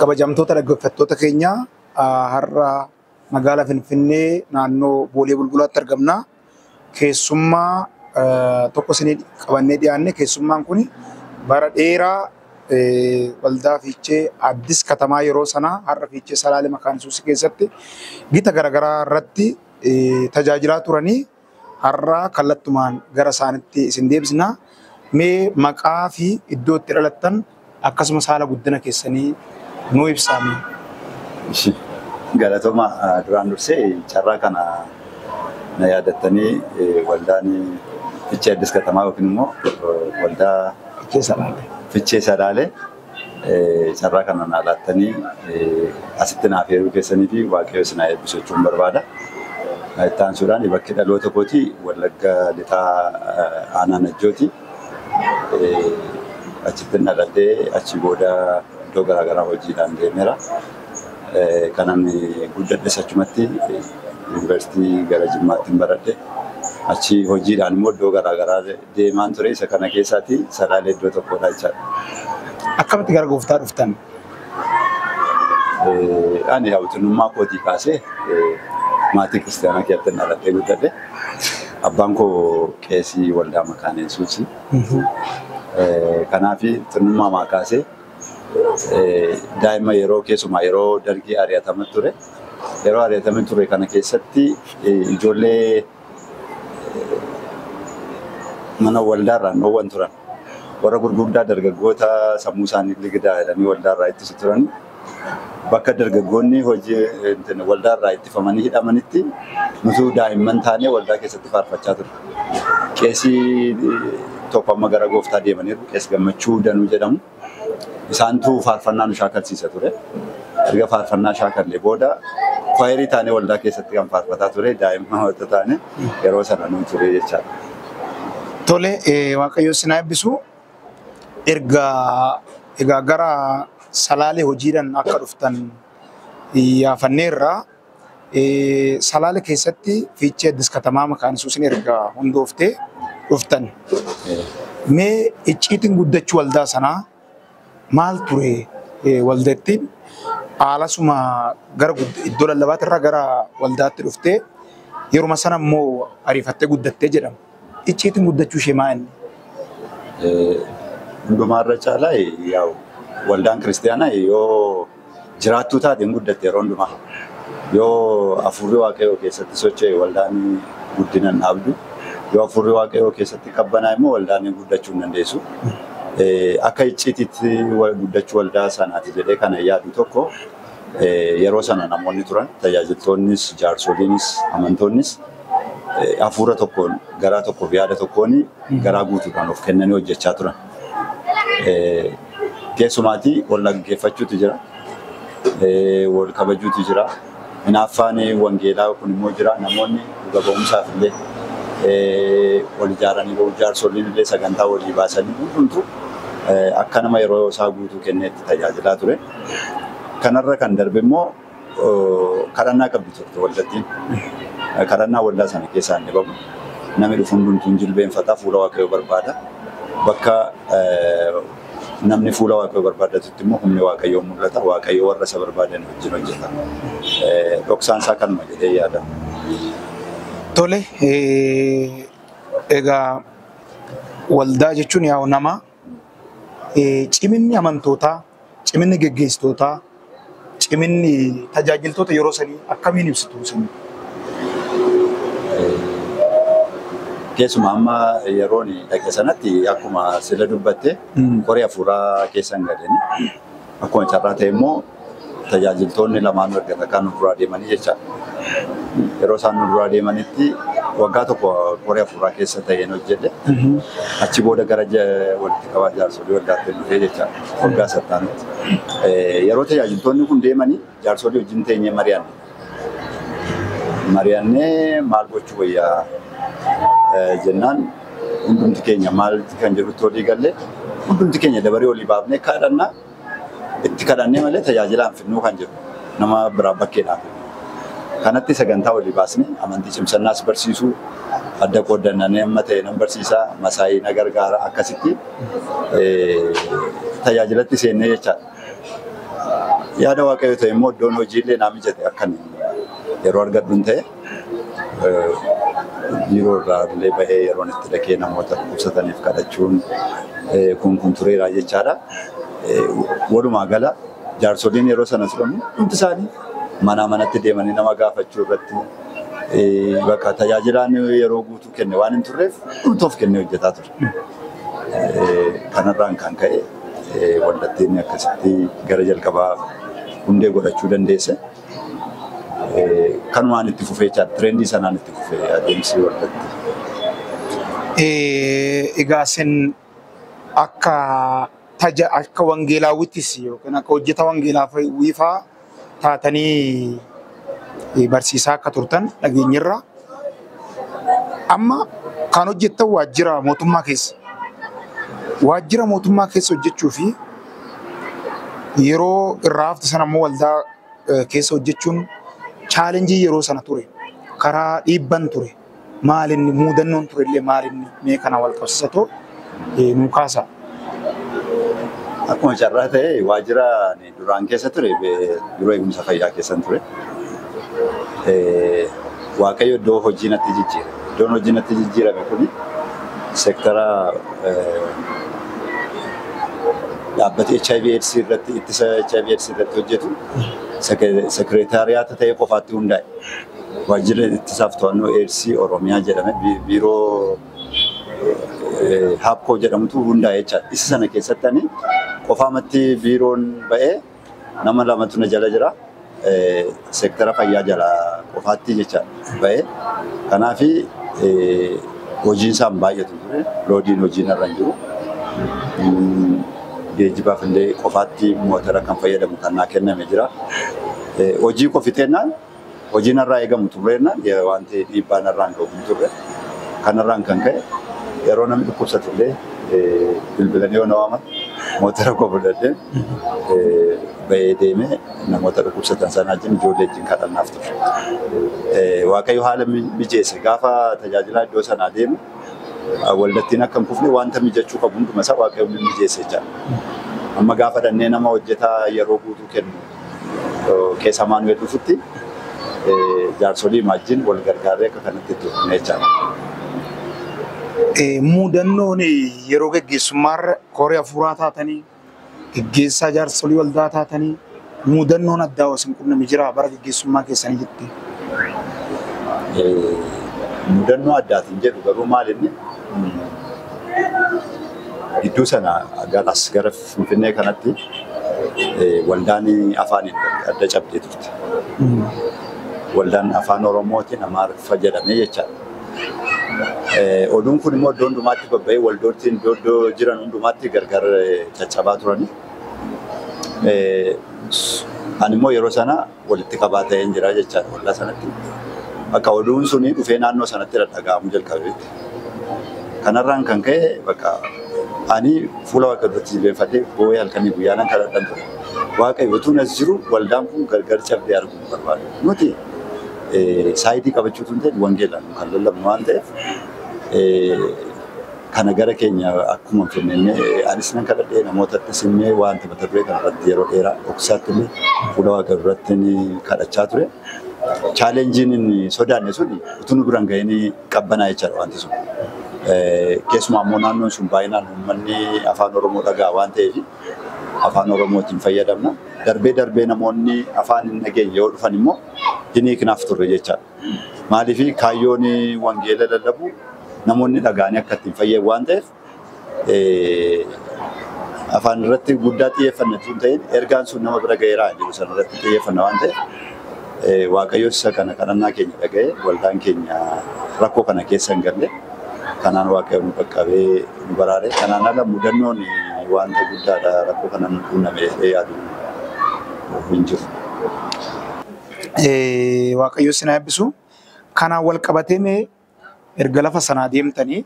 Kabajamtoota dhaggeeffattoota keenyaa har'a magaalaa Finfinnee naannoo Boolee Bulbulaatti argamna. keessummaa tokko isinii qabannee dhiyaanne keessummaan kun bara dheeraa waldaa fiichee addis katamaa yeroo sanaa har'a fiichee salaale makaan yesuus keessatti gita garagaraa irratti tajaajilaa turanii har'a kallattumaan gara isaanitti isin deebisna mee maqaa fi iddoo itti dhalattan Akkasumas haala guddina keessanii nuu ibsaa mee. Ishi galatoma duraan dursee carraa kana na yaadattanii waldaan Fichee Addis Katamaa yookiin immoo waldaa Fichee Salaalee carraa kana naa laattanii asitti naaf heeruu keessanii fi Waaqayyo isin haa eebbisu jechuun barbaada. Itti aansuudhaan bakki dhaloota kootii Wallagga Lixaa Aanaa Najjooti. Achittin dhaladhe. Achii booda iddoo garaa garaa hojiidhaan deemeera. Kanan guddadhes achumatti. Yuunivarsiitii gara Jimmaattin baradhe. Achii hojiidhaan immoo iddoo garaa garaa deemaan ture. Isa kana keessaati Salaalee iddoo tokkodha jechaadha. Akkamitti gara gooftaa dhuftan? Ani hawwattummaa kootii kaasee maatii kiristaanaa keessatti dhaladhee guddadhe. Abbaan koo qeesii waldaa makaana Yesuusi. Kanaaf xinnummaa maa kaasee daa'ima yeroo keessumaa yeroo dargii ari'atama ture. Yeroo ari'atame ture kana keessatti ijoollee Mana waldaarraa hin dhoowwan turan. Warra gurguddaa dargaggoota sammuu isaanii ligidaa jedhanii waldaarraa ittisu turan. Bakka dargaggoonni hojii waldaarraa ittifamanii hidhamanitti nutuu daa'imman taanee waldaa keessatti faarfachaa turre. Qeesii tokko amma gara gooftaa deemaniiru. Qees Gammachuu Danuu jedhamu. isaantu faarfannaa nu shaakalsiisa ture. Erga faarfannaa shaakallee booda kwaayerii taanee waldaa keessatti kan faarfataa ture daa'imman wanta taane yeroo sana nu ture jechaadha. Tole waaqayyo isin haa eebbisu. Erga egaa gara salaalee hojiidhaan akka dhuftan yaafanneerra. Salaale keessatti Fiichee Addis Katamaa Makaan Yesuusiin erga hundooftee dhuftan mee icciitiin guddachuu waldaa sanaa maal ture? Waldattiin haalasuma gara iddoo lallabaatirra gara waldaatti dhuftee yeruma sana immoo ariifattee guddattee jedhama. icciitiin guddachuu ishee maa inni? Hundumaarra caalaa yaa'u waldaan kiristaanaa yoo jiraattuu taate hin guddatte yeroo hundumaa. Yoo hafuurri waaqayyoo keessatti socho'e waldaan guddina hin dhaabdu. Yoo hafuurri waaqayyoo keessatti qabbanaa'e immoo waldaan guddachuu hin dandeessu. Akka icciitiitti guddachuu waldaa sanaati jedhee kana yaadu tokko yeroo sana namoonni turan tajaajiltoonnis jaarsoliinis amantoonnis hafuura tokkoon garaa tokkoof yaada tokkoon garaa guutuudhaan of kennanii hojjechaa turan. Keessumaatii wal dhaggeeffachuutu jira. Wal kabajuutu jira. Hinaaffaan wangeelaa kun immoo jira. Namoonni dhuga ba'umsaaf illee wal ijaaranii ba'u. Jaarsoliin illee sagantaa walii baasanii hundumtu akka nama yeroo isaa guutuu kenneetti tajaajilaa ture. Kanarra kan darbe immoo kadhannaa qabdi turte waldattiin. Kadhannaa waldaa sana keessaa hin dhibamu. Namni dhufu hundumtuu hin jilbeenfata, fuula Waaqayyoo barbaada. Bakka namni fuula Waaqayyoo barbaadatutti immoo humni Waaqayyoo mul'ata. Waaqayyo warra isa barbaadan wajjin hojjeta. Dhoksaan isaa kanuma jedhee yaada. Tole, egaa waldaa jechuun yaa'u namaa. Ciminni amantootaa, ciminni geggeessitootaa, ciminni tajaajiltoota yeroo sanii akkamiin ibsitu isin? Keessumaa amma yeroon dhaqe sanatti akkuma sila dubbatte koree hafuuraa keessan galanii akkuma carraa ta'e immoo tajaajiltoonni lamaanuu erga takkaa nu duraa deemanii jecha yeroo isaan nu duraa deemanitti waggaa tokko koree afuuraa keessa ta'een hojjedhe. Achi booda gara walitti qabaa jaarsolii waldaatti dhufee jecha waggaa sattaanutti. Yeroo tajaajiltoonni kun deemanii jaarsolii wajjin teenyee mari'anne. Mari'annee maal gochuu wayyaa jennaan hundumti keenya maal kan jedhutti olii galle hundumti keenya dabaree olii baafnee kadhannaa itti kadhannee malee tajaajilaan fidnuu kan jiru nama biraa bakkeedhaaf. Kanatti sagantaa walii baasne amantii cimsannaas barsiisuu adda qooddannanee amma ta'e nan barsiisa masaayii na gargaara akkasitti tajaajilatti seennee jechaadha. Yaada waaqayyo ta'e immoo iddoon hojiillee naa mijate akkan yeroo argadhun ta'e. biiroo irraa illee bahee yeroon itti dhaqee namoota dhukkubsataniif kadhachuun kun kun tureera jechaadha. Walumaa gala jaarsoliin yeroo sana turan hundi isaanii manaa manatti deemanii nama gaafachuu irratti bakka tajaajilaan yeroo guutuu kenne waan hin turreef hundi of kennee hojjetaa ture. Kanarraan kan ka'e waldattiin akkasitti gara jalqabaa hundee godhachuu dandeesse. kanumaan itti fufee jechaadha. Tirendii sanaan itti fufee adeemsi waldatti. Egaa isin akka taja akka wangeelaawwittis yookiin akka hojjeta wangeelaa wiifaa taatanii barsiisaa akka turtan dhageenyerra. Amma kan hojjettan waajjira mootummaa keessa. Waajjira mootummaa keessa hojjechuu fi yeroo irraa hafte sana immoo waldaa keessa hojjechuun chaalenjii yeroo sana ture. Karaa dhiibban ture. Maalinni muudannoon ture illee maalinni mee kana wal qabsisatoo nuu kaasaa. Akkuma carraa ta'ee waajjira Duraan keessa ture biiroo eegumsa fayyaa keessan ture. Waaqayyo iddoo hojii natti jijjiire. Iddoon hojii natti jijjiirame kun seektara dhaabbata HIV AIDS irratti ittisa HIV AIDS irratti hojjetu sekireetaariyaata ta'ee qofaatti hundaa'e. Waajjira ittisaaf to'annoo AIDS Oromiyaa jedhame biiroo Haapkoo jedhamutu hundaa'e jecha. Isa sana keessatti ani qofaamatti biiroon ba'ee nama lamatu na jala jira. Seektara fayyaa jala qofaatti jecha ba'ee. Kanaaf hojiin isaan baay'atu ture. Loodiin hojiin irra hin jiru. Geejjibaaf illee qofaatti mootara kan fayyadamu kan naa kenname jira. Hojii koo fixeennaan Hojii narraa eegamu xumreennaan wanti dhiibbaa narraan ga'u hin turre. Kanarraan kan ka'e yeroo namni dhukkubsatu illee bilbilanii yoo na waaman motora koo fudhadheen bahee deemee namoota dhukkubsatan sana wajjin ijoollee wajjin kadhannaaf ture. Waaqayyo haala mijeesse gaafa tajaajilaa iddoo sanaa deemu waldattiin akka hin kufne wanta mijachuu qabu hunduma isaa waaqayyo mijeesse jechaadha. Amma gaafa dhannee nama hojjetaa yeroo guutuu kennu keessa maanuweel dhufutti jaarsolii maajjiin wal gargaaree akka kanatti itti fufne jechaadha. Muudannoon yeroo geggeessummaarra koree hafuuraa taatanii geggeessaa jaarsolii waldaa taatanii muudannoon addaa hosin qunname jira bara geggeessummaa keessanii jetti. Mudannoo addaatiin jedhu garuu maal inni gidduu sana garas gara Finfinnee kanatti waldaan afaan adda cabdee turte. Waldaan afaan Oromootiin Amaariffa jedhamee jechaadha. Oduun kun immoo iddoo hundumaatti babba'ee waldoottiin iddoo iddoo jiran hundumaatti gargar caccabaa turani. Ani immoo yeroo sana walitti qabaa ta'een jira jechaadha waldaa sanatti. Bakka oduun suni dhufee naannoo sanatti dhaga'amuu jalqabeetti. Kanarraan kan ka'e bakka ani fuula Waaqayyoo duratti jilbeenfadhee boo'ee halkanii guyyaa nan kadhadhan ture. Waaqayyo utuun as jiru waldaan kun gargar cabdee arguu hin barbaadu. Nuti saayidii qabachuu tun ta'e wangeelaan kan lallabnu waan ta'eef Kana gara keenya akkuma kennine anis nan kadhadhe namootattis himme wanta mata duree kana irratti yeroo dheeraa dhoksaatti illee fuula waaqayyo duratti kadhachaa ture. Chaalenjiin inni sodaanne sun utuu nu biraan ga'in qabbanaa jechaadha wanti sun. Keessumaa immoo naannoon sun baay'inaan uummanni afaan Oromoo dhaga'a waan ta'eef afaan Oromootiin fayyadamna. Darbee darbee namoonni afaan hin dhageenye yoo dhufan immoo hin hiiknaaf turre jechaadha. Maaliif kaayyoon wangeela lallabuu namoonni dhaga'anii akka ittiin fayyan waan ta'eef afaan irratti guddaa xiyyeeffanna tun ta'in ergaan sun nama bira ga'eera jedhu sana irratti xiyyeeffanna waan ta'eef waaqayyoos isa kana kadhannaa keenya dhaga'ee waldaan keenya rakkoo kana keessa hin galle kanaan waaqayyoon nu qaqqabee nu baraare kanaan ala mudannoon wanta guddaadha rakkoo kana nu quunname yaadu hin jiru. Eh, Waaqayyo isin haa eebbisu. Kanaan wal qabatee mee erga lafa sanaa deemtanii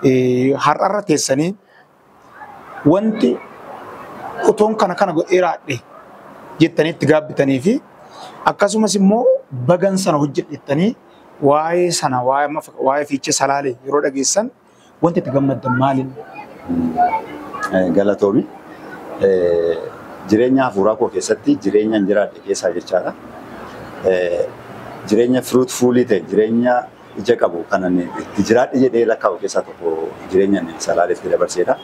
eh, har'arra teessanii wanti utuun kana kana godhee raadhe jettanii itti gaabbitanii fi akkasumas immoo bagan sana hojjedhettanii waa'ee sana waa'ee amma fak- waa'ee fiichee salaalee yeroo dhageessan Wanti itti gammaddan maalin? Galatoomi. Jireenya hafuuraa koo keessatti jireenya jiraadhe keessaa jechaadha. Jireenya fruitful ta'e, jireenya ija qabu kan ani itti jiraadhe jedhee lakkaa'u keessaa tokko jireenya ani Salaalee itti dabarseedha.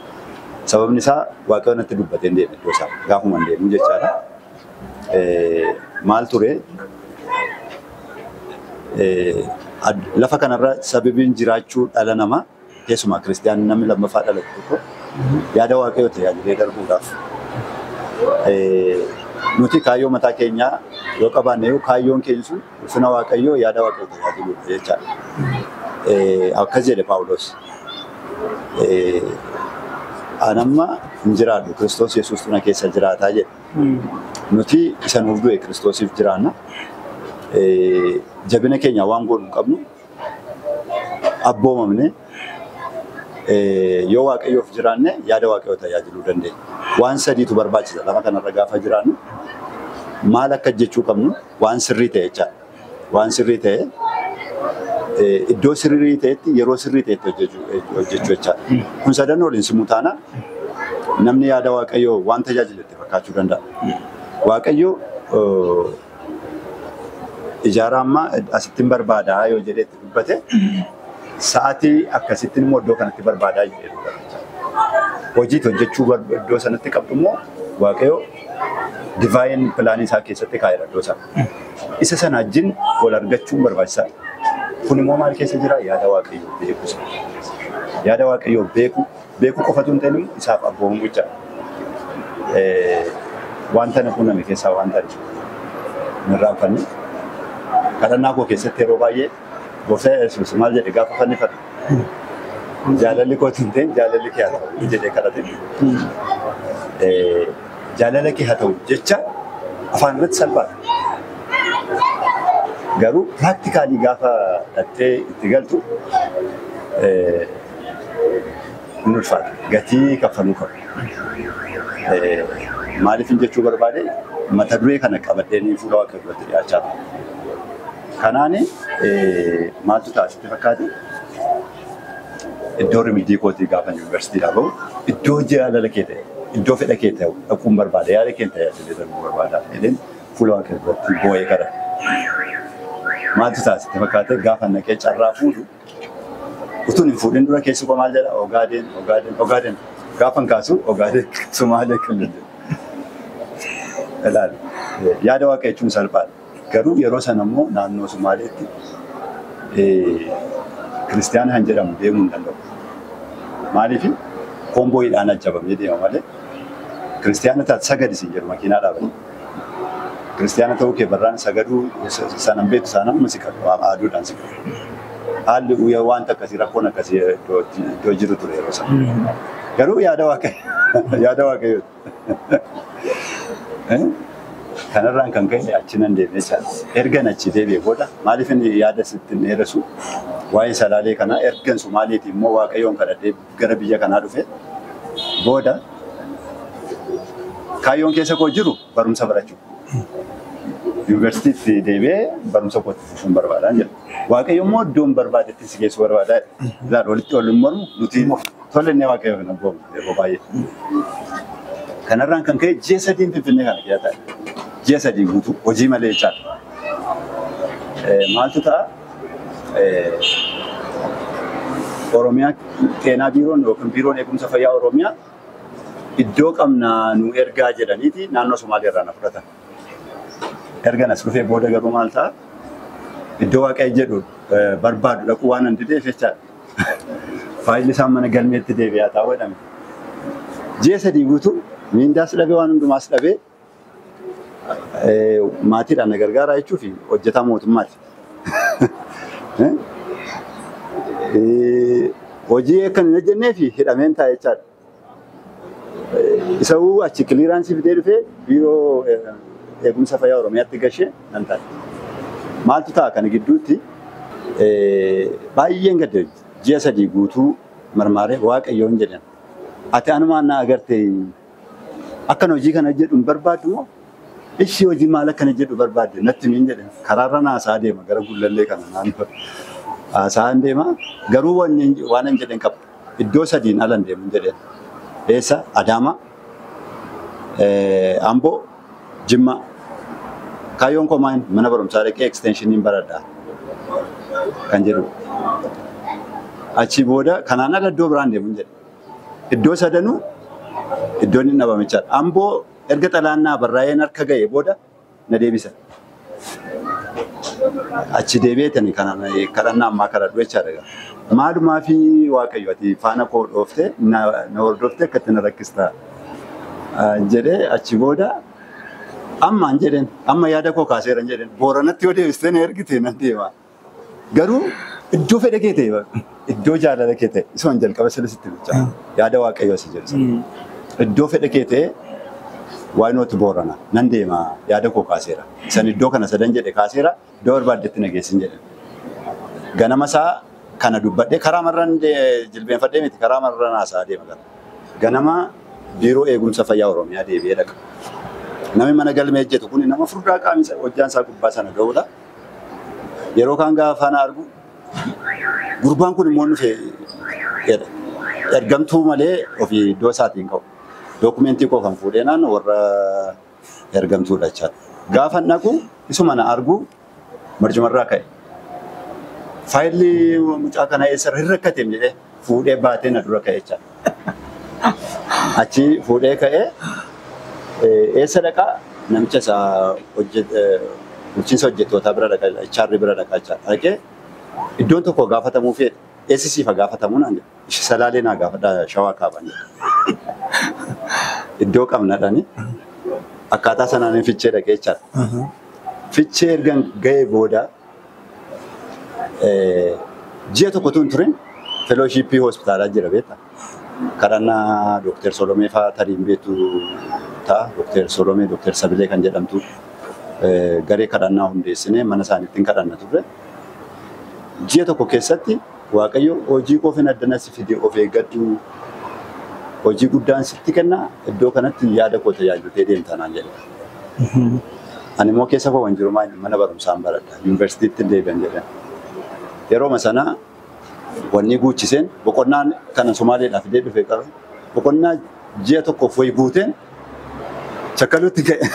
Sababni isaa Waaqayyo natti dubbatee hin deemne iddoo isaa gaafuma hin deemu jechaadha. maal ture? Lafa kanarra sababiin jiraachuu dhala namaa keessumaa kiristiyaanni namni lammaffaa dhalate tokko yaada waaqayyoo ta'e yaadamee darbuudhaaf. Nuti kaayyoo mataa keenyaa yoo qabaanne iyyuu kaayyoon keenya sun ulfina waaqayyoo yaada waaqayyoo ta'e yaadamuudha jechaadha. Akkas jedhe Paawulos. Anamma hin jiraadhu Kiristoos Yesuustu na keessa jiraataa jedhe. Nuti isa nuuf du'e Kiristoosiif jiraanna. Jabina keenya waan goonu hin qabnu. Abboomamne yoo Waaqayyoof jiraanne yaada Waaqayyoo tajaajiluu dandeenya. Waan sadiitu barbaachisa lafa kanarra gaafa jiraannu maal akka hojjechuu qabnu waan sirrii ta'e jechaadha. waan sirrii ta'e iddoo sirrii ta'etti yeroo sirrii ta'etti hojjechuu hojjechuu jechaadha. Kun sadan waliin simuu taana namni yaada Waaqayyoo waan tajaajiletti fakkaachuu danda'a. Waaqayyo eh, ijaaraa ammaa asittin barbaadaa yoo jedhee itti dubbate sa'aatii akkasittiin immoo iddoo kanatti barbaadaa jedhee dubbata jechaadha. Hojiitti hojjechuu bar- iddoo sanatti qabdu immoo Waaqayyo divaayin pilaanii isaa keessatti kaa'eera iddoo sana. Isa sana wajjin wal argachuun barbaachisaadha. Kun immoo maal keessa jira? Yaada Waaqayyoo beekuu sana. Yaada Waaqayyoo beekuu, beekuu qofatu hin ta'in isaaf abboomamuu jechaadha. Wanta na quunname keessaa wanta hin irraanfanne kadhannaa koo keessatti yeroo baay'ee Gooftaa Yesuus maal jedhe gaafa fannifame? Jaalalli kooti hin ta'in jaalalli kee haa ta'u jedhee kadhate. Jaalala kee haa ta'u jecha afaan irratti salphaadha. Garuu piraaktikaali gaafa dhattee itti galtu hin ulfaata. Gatii kaffaluu qabu. Maaliif hin jechuu barbaade mata duree kana qabadhee fuula waaqayyoo irratti dhiyaachaa ture. Kanaan maaltu ta'a sitti fakkaate? Iddoo rimiddii kootii gaafan yuunivarsiitiidhaa bahu iddoo jaalala kee ta'e iddoo fedha kee ta'u dhaquun barbaada yaada keen tajaajilee darbuu barbaada jedheen fuula Waaqayyo duratti boo'ee kadhate. Maaltu ta'a sitti fakkaate gaafan dhaqee carraa fuudhu utuun hin fuudhin dura keessi koo maal jedha ogaadeen ogaadeen ogaadeen gaafan kaasu ogaadeen sumaalee kan jedhu. Ilaali yaada Waaqayyo jechuun salphaadha. Garuu yeroo sana immoo naannoo Sumaaleetti Kiristiyaana kan jedhamu deemuu hin danda'u. Maaliif koomboyiidhaan ajjabamee deema malee Kiristiyaana taate sagadi siin jedhu makiinaa dhaabanii. Kiristiyaana ta'uu kee barraan sagaduu sanan beektu saanaan amma si qabu aaduudhaan si qabu. Haalli uuyyaa wanta akkasii rakkoon akkasii iddoo iddoo jiru ture yeroo sana. Garuu yaada waaqayyo yaada waaqayyooti. Kanarraan kan ka'e achi nan deeme jechaadha. Ergan achi deebi'e booda maaliif inni yaada sitti hin dheeressu waa'ee salaalee kanaa ergan Somaaleetii immoo Waaqayyoon kadhadhee gara biyya kanaa dhufe booda kaayyoon keessa koo jiru barumsa barachuu. Yuunivarsiitiitti deebi'ee barumsa kootti fufuun barbaadaan jedha. Waaqayyo immoo iddoon barbaadetti si geessu barbaadaa jedha. Ilaal walitti wal hin mormu nuti Tole inni waaqayyo hin abboomu yeroo baay'ee. Kanarraan kan ka'e ji'a sadiin Finfinnee kana keessa taa'e. Ji'a sadii guutuu hojii malee jechaadha. Eh, Maaltu ta'a? Eh, Oromiyaa keenaa biiroon yookiin biiroon eegumsa fayyaa Oromiyaa iddoo qabnaa nu ergaa jedhaniiti naannoo Somaalee irraa na fudhatan. Erga nas dhufee booda garuu maal ta'a? Iddoo waaqayyo jedhu eh, barbaadu dhaquu waan hin dideef jechaadha. Faayilli isaa mana galmeetti deebi'aa taa'u jedhame. Ji'a sadii guutuu miindaas dhabee waan hundumaas dhabee maatiidhaan na gargaaraa jechuuf hojjetaa mootummaati. Hojii akkan hin hojjennee fi hidhameen taa'e jechaadha. Isa'uu achi kiliiraansii fidee dhufee biiroo eegumsa fayyaa Oromiyaatti gashee nan taa'e. Maaltu ta'a kana gidduutti baay'een gadde ji'a sadii guutuu marmaaree waaqayyoon jedhan. Ati anumaan na agartee akkan hojii kana jedhu hin barbaaddu moo ishii hojii maal akkana jedhu barbaadde natti miin jedhan. Karaarra naasaa deema gara gullallee kana naannoo haasaan deema garuu waan hin jedhan qaba. Iddoo sadiin ala hin deemin jedheen. Eessa? Adaamaa, eh, Amboo, Jimmaa. Kaayyoon koo maal? Mana barumsaa dhaqee eksteenshiiniin baradha kan jedhu. Achii booda kanaan ala iddoo biraan deemin jedhe. Iddoo sadanuu iddoon hin dhabamichaadha. Amboo erga xalaannaa barraa'een harka ga'e booda na deebisa. Achi deebi'eetani kana kadhannaa ammaa kadhadhu jechaadha egaa. Maalumaa fi Waaqayyo ati faana koo dhooftee na na hordoftee akkatti na rakkista ah, jedhee achi booda ammaan jedheen amma yaada koo kaaseeran jedheen booranatti yoo deebistee na ergite nan deema. Garuu iddoo fedha kee ta'e bara. Iddoo jaalala kee ta'e. Isumaan jalqaba sila sitti bulchaa. Yaada waaqayyoo si jedhu sana. Iddoo fedha kee ta'e why not boorana nan deema yaada koo kaaseera. San iddoo kana sadan jedhe kaaseera iddoo barbaaddetti na geessin jedhe. Ganama isaa kana dubbadhe karaa marran de- jilbeenfadhee miti karaa marran haasaa deema gara. Ganama biiroo eegumsa fayyaa Oromiyaa deebi'ee dhaqa. Namni mana galmee hojjetu kun nama furdaa qaamni isaa- hojjaan isaa gubbaa sana ga'udha. Yeroo kaan gaafa na argu gurbaan kun immoo dhufe jedha. Ergamtuu malee ofii iddoo isaatii hin ka'u. Dookumentii koo kan fuudhee naan warra ergamtuudha jechaadha. Gaafa dhaqu isuma na argu marcumarraa ka'e. Faayilli mucaa kana eessarra hin rakkateem jedhee. fuudhee baatee na dura ka'e jecha. Achi fuudhee ka'ee eessa dhaqaa namicha isa bulchiinsa hojjettootaa bira dhaqa HR bira dhaqa jecha. Dhaqee iddoon tokko gaafatamuu fi eessi siif gaafatamu naan jedhe. Ishi salaalee naa gaafadha shawaa kaaban jedhe. Iddoo qabnadhani akkaataa sanaan fichee dhaqee jecha. Fichee ergan ga'ee booda Ji'a tokko tun turin felooshiippii hospitaalaa jira beekta. Kadhannaa Dooktar Solomee fa'aa tarii hin beektu ta'a. Dooktar Solomee, Dooktar Sabilee kan jedhamtu garee kadhannaa hundeessinee mana isaaniitti hin kadhanna turre. Ji'a tokko keessatti Waaqayyo hojii koo fi addana si fide of eeggadhu. Hojii guddaan sitti kenna iddoo kanatti yaada koo tajaajiltee deemta naan jedhe. Ani immoo keessa koo kan jiru maal mana barumsaan baradha. Yuunivarsiitiitti hin deebi'an jedhan. Yerooma sana wanni guuchiseen boqonnaan kanan Somaaleedhaa fidee dhufe qaba. Boqonnaa ji'a tokkoof wayi guuteen chakkaluutti ka'e.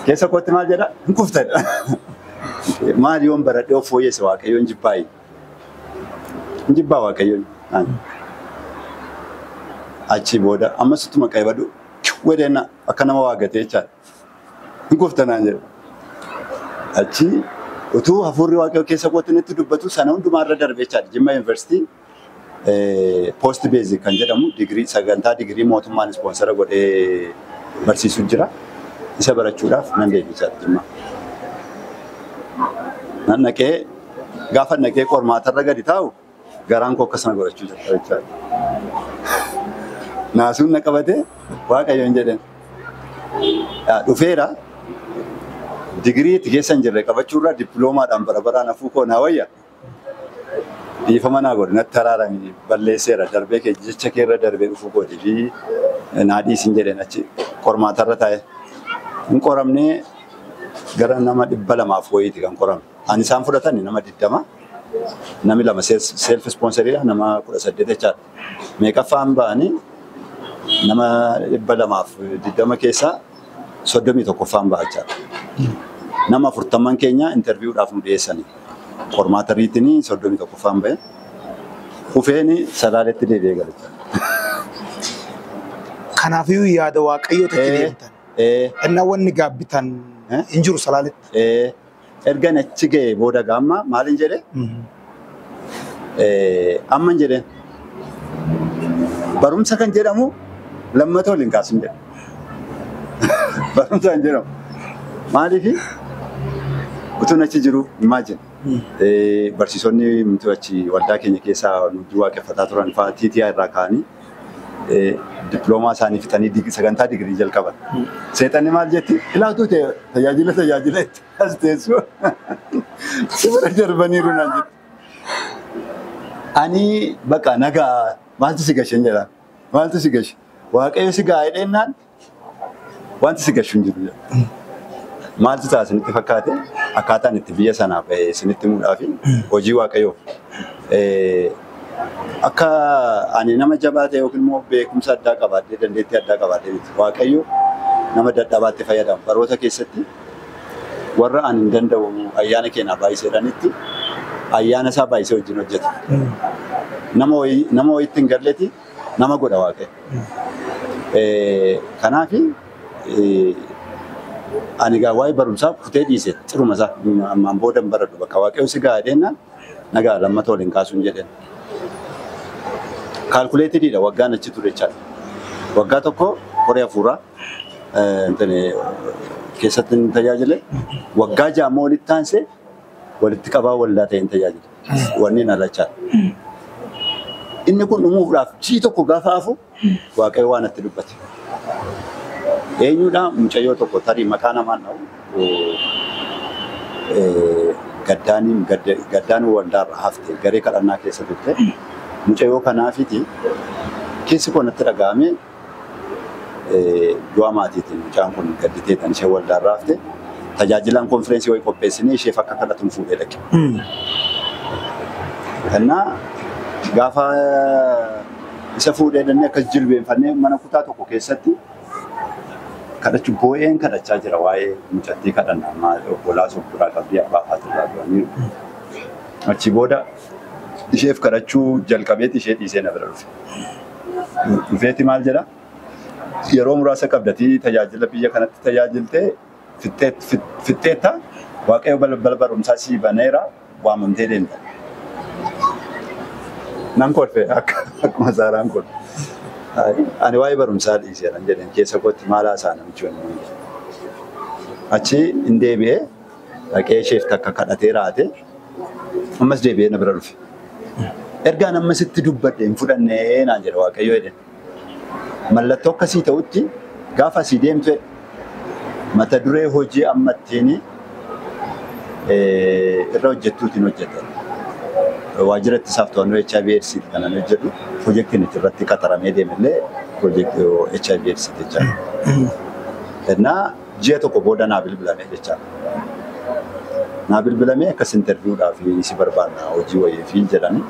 Keessa kootti maal jedha? Hin kuftadha. Maal yoon baradhee of fooyyesse waaqayyoon jibbaayi. Hin jibbaa waaqayyoon. Achii booda ammas ittuma qaybadhu Wedheen akka nama waa gatee jechaan hin kufta naan jedhe. Achi utuu hafuurri waaqayyoo keessa kootti natti dubbatu sana hundumaa irra darbe jechaadha. Jimma Yuunivarsiitii poost beezik kan jedhamu digirii sagantaa digirii mootummaan ispoonsara godhee barsiisu jira. Isa barachuudhaaf nan deeme jechaadha Jimma. Nan dhaqee gaafa dhaqee qormaatarra gadi taa'u Garaan koo akkas na godhachuu jalqabe jechaadha. Naasuun na qabate waaqayyoon jedheen. Yaa dhufeera digirii itti keessa hin jirre qabachuurraa dippiloomaadhaan bara baraan hafuu koo naa wayya. Dhiifama naa godhe natti araarame balleesseera darbee kee jecha keerra darbee dhufuu kooti fi naa dhiisin jedheen achi qormaatarra taa'e. Hin qoramnee gara nama dhibba lamaaf wayiiti kan qorame. Ani isaan fudhatan nama 20 nami lama self sponsoridha nama 18 jechaadha. Meeqaffaan ba'ani nama 220 keessaa 31ffaan ba'a jechaadha. Nama 40 keenya interviewdhaaf nu dhiyeessani. Qormaata riitiin 31ffaan ba'e. Kufeen salaaletti deebi'ee gale jechaadha. Kanaafuu yaada waaqayyoo tachi deemtan. Ennaa wanni gaabbitan hin jiru salaaletti. Ergan achi ga'ee booda gaamma maalin jedhe amman jedheen barumsa kan jedhamu lammata waliin kaasin jedhe. Barumsa kan jedhamu maaliifi utuun achi jiru imagine barsiisonni mitu achi waldaa keenya keessaa nuti waaqeffataa turan fa'aa TTI irraa ka'anii diploomaa isaanii fixanii dig- sagantaa digirii jalqaban. Seexanni maal jetti? Ilaatuu ta'e tajaajila tajaajila itti as teessu si bira darbaniiru naan jetti. Ani baqa nagaa maaltu si gashe jedha. Maaltu si gashe? Waaqayyo si gaa'ee dheennaan Wanti si gashu hin jiru jedhe. Maaltu ta'a isinitti fakkaate? Akkaataan itti biyya sanaa bahe isinitti himuudhaa fi hojii Waaqayyoof akka ani nama jabaa ta'e yookiin immoo beekumsa addaa qabaadhee dandeettii addaa qabaadhee miti. Waaqayyo nama dadhabaatti fayyadama. Baroota keessatti warra ani hin danda'u ayyaana keenyaa baay'iseedhanitti ayyaana isaa baay'isee wajjin hojjeta. Nama wayitti hin galleeti nama godha waaqayyo. Kanaaf ani egaa waa'ee barumsaa kutee dhiise xiruma isaa ammaan booda hin baradhu bakka waaqayyo si gahaa deennaan nagaa lammata waliin kaasuun jedheen. Kaalkuleetididha waggaan achi ture jechaadha. Waggaa tokko koree hafuuraa keessatti hin tajaajile. Waggaa ja'a immoo walitti aansee walitti qabaa waldaa ta'een tajaajile. wanni na lachaa. Inni kun dhumuudhaaf jii tokko gaafa hafu Waaqayyo waan itti dubbate. Eenyudha mucayyoo tokko tarii maqaa namaan dha'u eh, gaddaaniin gadda- gaddaan waldaarra hafte garee kadhannaa keessa turte. Mucayyoo kanaafiti keessi koo natti dhaga'ame du'a maatiitiin mucaan kun gadditee kan ishee waldaan raafte tajaajilaan konfireensii wayii qopheessinee isheef akka kadhatuun fuudhee dhaqe. Kennaa gaafa isa fuudhee dhannee akkas jilbeenfannee mana kutaa tokko keessatti kadhachuu boo'een kadhachaa jira waa'ee mucattii kadhanna ammaa obbolaas of duraa qabdii abbaa faatirraa du'aniiru. Achi booda Isheef kadhachuu jalqabeeti ishee dhiisee na bira dhufe. Dhufeeti maal jedha? Yeroo muraasa qabdatii tajaajila biyya kanatti tajaajilte fixxeetta Waaqayyo balbala barumsaa sii baneera waamamtee deemta. Nan kolfe akkuma Saaraan kun. Ani waa'ee barumsaa dhiiseeran jedheen keessa kootti maal haasa'a namichi kun. Achi hin deebi'ee. dhaqee isheef takka kadhatee raate ammas deebi'ee na bira dhufe. Ergaan amma sitti dubbadhe hin fudhannee naan jedhe waaqayyo jedhe. Mallattoo akkasii ta'utti gaafa asii deemtu jedhe. Mata duree hojii amma ittiin irra hojjettuutiin hojjeta. Waajjira ittisaaf to'annoo HIV AIDSiiti kan ani hojjedhu. Pirojektiin itti irratti qaxaramee deemellee pirojektii HIV AIDSiiti jechaadha. Kennaa Ji'a tokko booda naa bilbilame jechaadha. Naa bilbilamee akkas interview dhaaf si barbaanna hojii wayiif jedhanii.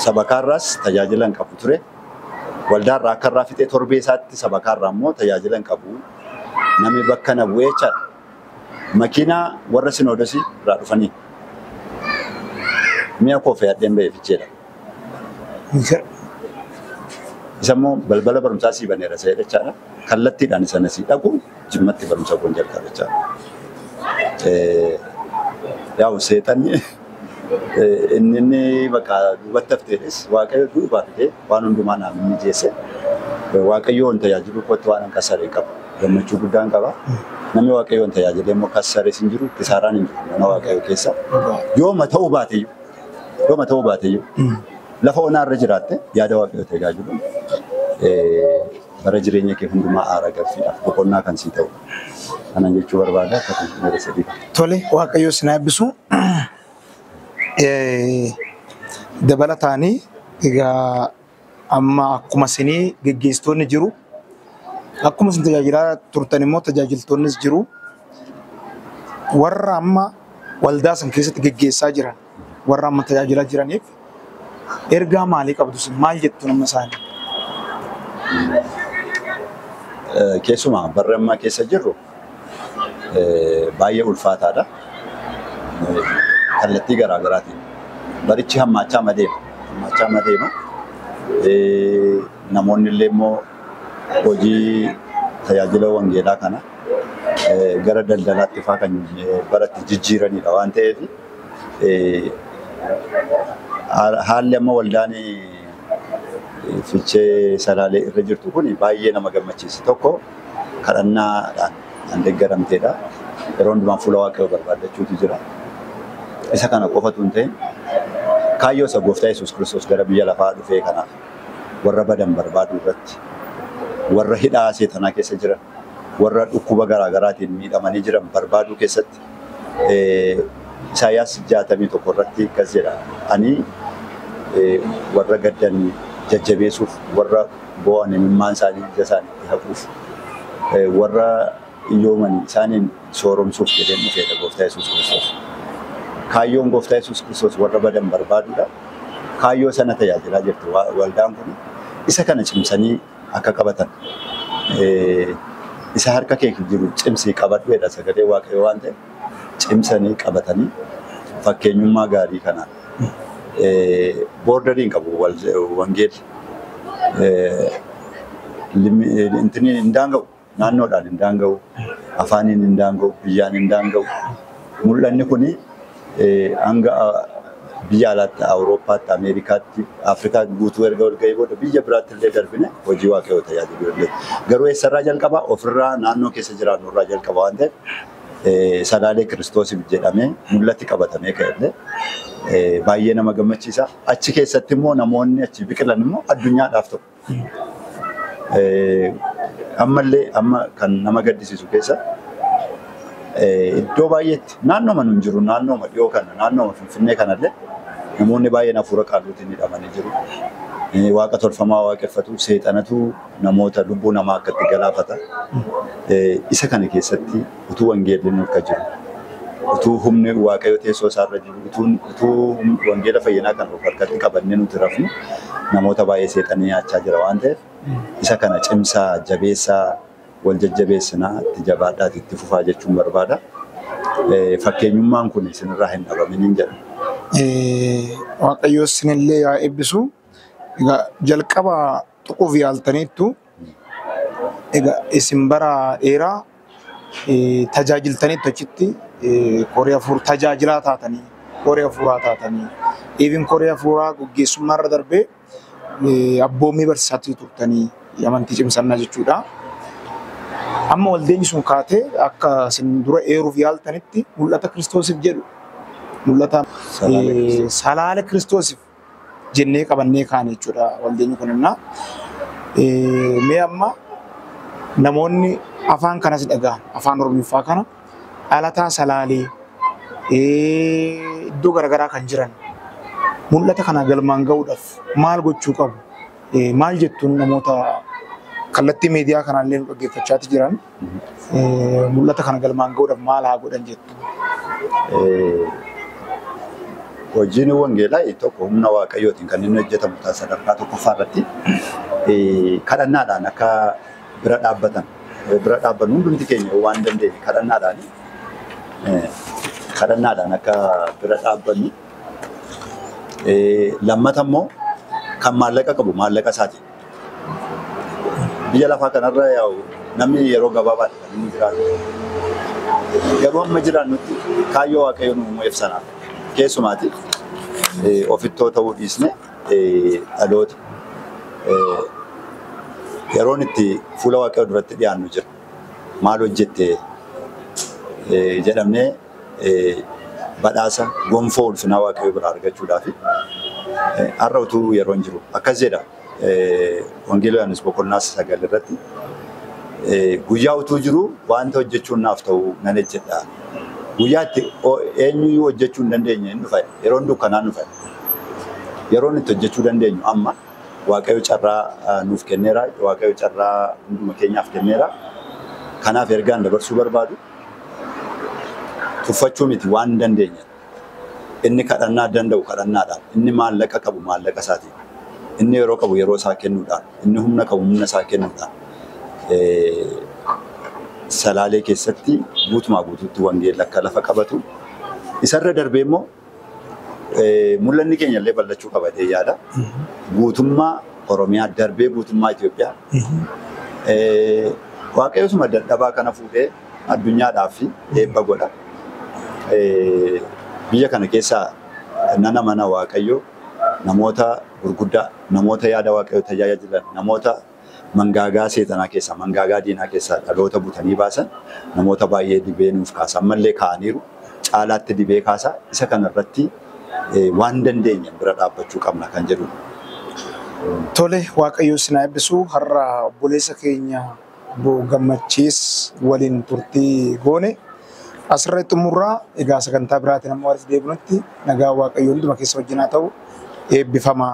Sabakaa irraas tajaajila hin qabu ture. Waldaa irraa akka irraa fixee torbee isaatti sabakaa irraa immoo tajaajila hin qabu. Namni bakka na bu'ee jechaadha. Makiinaa warra sinoodosii irraa dhufanii mi'a koo fe'adheen ba'e ficheedha. Isa immoo balbala barumsaa sii baneera se'ee jechaadha. Kallattiidhaan isa na sii dhaqu jimmatti barumsa koon jalqabe jechaadha. Yaa'u seexanni inni inni bakka duubatti hafteedhis waaqayyo duubaa fidee waan hundumaa naaf mijeesse waaqayyoon tajaajiluu kootti waan kassare hin qabu. Gammachuu guddaan qaba. Namni waaqayyoon tajaajilee immoo kassares hin jiru, kisaaraan hin jiru mana waaqayyoo keessa. Yooma ta'uu baateyyuu. Dhuma ta'uu baateyyuu lafa onaa irra jiraatte yaada waaqayyoo ta'e gaajulu bara jireenya kee hundumaa aara gaffiidhaaf boqonnaa kan sii ta'u. Kanan jechuu barbaada akka kun meera sadii. Tole waaqayyoo isin eebbisu. Dabalataanii egaa Amma akkuma isin geggeessitoonni jiru, akkuma isin tajaajilaa turtan immoo tajaajiltoonnis jiru. Warra amma waldaa san keessatti geggeessaa jiran, warra amma tajaajilaa jiraniif ergaa maalii qabdu isin? Maal jettu nama isaanii? Keessumaa barri ammaa keessa jirru baay'ee ulfaataadha. Kallattii garaa garaatiin barichi hammaachaa ma deema. Hammaachaa ma deema. Namoonni illee immoo hojii tajaajila wangeelaa kana gara daldalaatti faa kan baratti jijjiiranidha waan ta'eef haalli amma waldaan fichee salaalee irra jirtu kun baay'ee nama gammachiisa. Tokko kadhannaadhaan kan deeggaramteedha. Yeroo hundumaa fuula Waaqayyoo barbaaddachuutu jira. Isa kana qofa utuu hin ta'in kaayyoo isa gooftaa Yesuus Kiristoos gara biyya lafaa dhufee kanaaf warra badan barbaaduu irratti warra hidhaa seexanaa keessa jiran warra dhukkuba garaa garaatiin miidhamanii jiran barbaaduu keessatti Isaayaas 61 irratti akkas jedha. Ani warra gaddan jajjabeessuuf, warra boo'an imimmaan isaanii ija isaaniitti haquuf, warra iyyooman isaaniin sooromsuuf jedheen dhufeedha Gooftaa Yesuus Kiristoos. Kaayyoon Gooftaa Yesuus Kiristoos warra badan barbaaduudha. Kaayyoo sana tajaajilaa jirti waldaan kun. Isa kana cimsanii akka qabatan isa harka kee jiru cimsii qabadhu jedha sagalee waaqayyoo waan ta'e cimsanii qabatanii fakkeenyummaa gaarii kana boordariin qabu wangeelli hin daanga'u. Naannoodhaan hin daanga'u, afaaniin hin daanga'u, biyyaan hin daanga'u. Mul'anni kun hanga biyya alaatti, Awurooppaatti, Ameerikaatti, Afrikaa guutuu erga ol ga'ee booda biyya biraatti illee darbine hojii Waaqayyoo tajaajiluu dandeenya. Garuu eessarraa jalqaba? Ofirraa, naannoo keessa jiraannu irraa jalqaba waan ta'eef Salaalee Kiristoosiif jedhamee mul'ati qabatamee ka'e illee baay'ee nama gammachiisa. Achi keessatti immoo namoonni achii biqilan immoo addunyaadhaaf ta'u. Ammallee amma kan nama gaddisiisu keessa iddoo baay'eetti naannooma nun jiru naannooma dhiyoo kana naannooma Finfinnee kanallee namoonni baay'een hafuura qaalluutiin hidhamanii jiru. Waaqa tolfamaa waaqeffatu seexanatu namoota lubbuu namaa akkatti galaafata. Isa kana keessatti utuu wangeelli nurka jiru, utuu humni Waaqayyo teessoo isaarra jiru, utuu utuu hum- wangeela fayyinaa kan of harkatti qabannee nuti rafnu namoota baay'ee seexanni nyaachaa jira waan ta'eef isa kana cimsaa, jabeessaa, wal jajjabeessinaa, itti jabaadhaati itti fufaa jechuun barbaada. Eh, Fakkeenyummaan kun isinirraa hin dhabaminiin jedha. Eh, Waaqayyo isinillee yaa eebbisu. Egaa jalqaba tuquuf yaaltaniittu Egaa isin bara dheeraa tajaajiltaniittu achitti koree hafuur tajaajilaa taatanii koree hafuuraa taatanii even koree hafuuraa gaggeessummaa irra darbee abboommii barsiisaatti turtanii amantii cimsannaa jechuudha. Amma waldeenyi sun kaatee akka isin dura eeruuf yaaltanitti mul'ata kiristoosiif jedhu mul'ata salaala kiristoosiif jennee qabannee kaane jechuudha waldeenyi kun innaa. Eh, Mee amma namoonni afaan kanas dhaga'an afaan oromiffaa kana dhalataa salaalee eh, iddoo garaagaraa kan jiran mul'ata kana galmaan ga'uudhaaf maal gochuu qabu? Eh, Maal jettuun namoota kallattii miidiyaa kanaallee nu dhaggeeffachaati jiran? Mul'ata kana galmaan ga'uudhaaf maal haa godhan jettu? Hojiin wangeelaa tokko humna waaqayyootiin kan inni hojjetamu ta'a sadarkaa tokkoffaa irratti kadhannaadhaan akka bira dhaabbatan bira dhaabbannu hundumti keenya waan dandeenye kadhannaadhaan kadhannaadhaan akka bira dhaabbannu lammata immoo kan maallaqa qabu maallaqa isaatiin Biyya lafaa kanarra yaa'u namni yeroo gabaabaadha kan inni jiraatu. Garuu amma jiraannutti kaayyoo waaqayyo nu uumeef sana keessumaati ofittoo ta'uu dhiisne dhaloota yeroon itti fuula waaqayyo duratti dhiyaannu jira. Maal hojjette jedhamnee badhaasa gonfoo ulfinaa Waaqayyoo biraa argachuudhaafi. Har'a utuu yeroon jiru akkas jedha Wangeela Yohaannis boqonnaa sagal irratti guyyaa utuu jiru wanta hojjechuun naaf ta'u nan hojjedha. Guyyaa itti eenyuyyuu hojjechuu hin dandeenye hin dhufa yeroon dukkanaa dhufa. Yeroon itti hojjechuu dandeenyu amma Waaqayyo carraa nuuf kenneera. Waaqayyo carraa hunduma keenyaaf kenneera. Kanaaf ergaan dabarsuu barbaadu tuffachuu miti waan hin dandeenye. Inni kadhannaa danda'u kadhannaadhaan, inni maallaqa qabu maallaqa isaatiin, inni yeroo qabu yeroo isaa kennuudhaan, inni humna qabu humna isaa kennuudhaan salaalee keessatti guutumaa guutuutti wangeelli akka lafa qabatu isarra darbee immoo Mul'anni keenya illee bal'achuu qaba jedhee yaada. Guutummaa Oromiyaa darbee guutummaa Itoophiyaa waaqayyoosuma dadhabaa kana fuudhee addunyaadhaaf eebba godha. Biyya kana keessaa nana mana waaqayyoo namoota gurguddaa namoota yaada waaqayyoo tajaajilan namoota mangaagaa seexanaa keessaa, mangaagaa diinaa keessaa dhaloota butanii baasan namoota baay'ee dibee nuuf kaasa. Ammallee kaa'aniiru. Caalaatti dibee kaasa. Isa kana irratti waan dandeenyeen bira dhaabbachuu qabna kan jedhudha. Tole Waaqayyo isin haa eebbisu. Har'a obboleessa keenya obbo Gammachiis waliin turtii goone asirratti xumurra. Egaa sagantaa biraatiin amma walitti deebinutti nagaa Waaqayyo hunduma keessa wajjin haa ta'u. Eebbifamaa.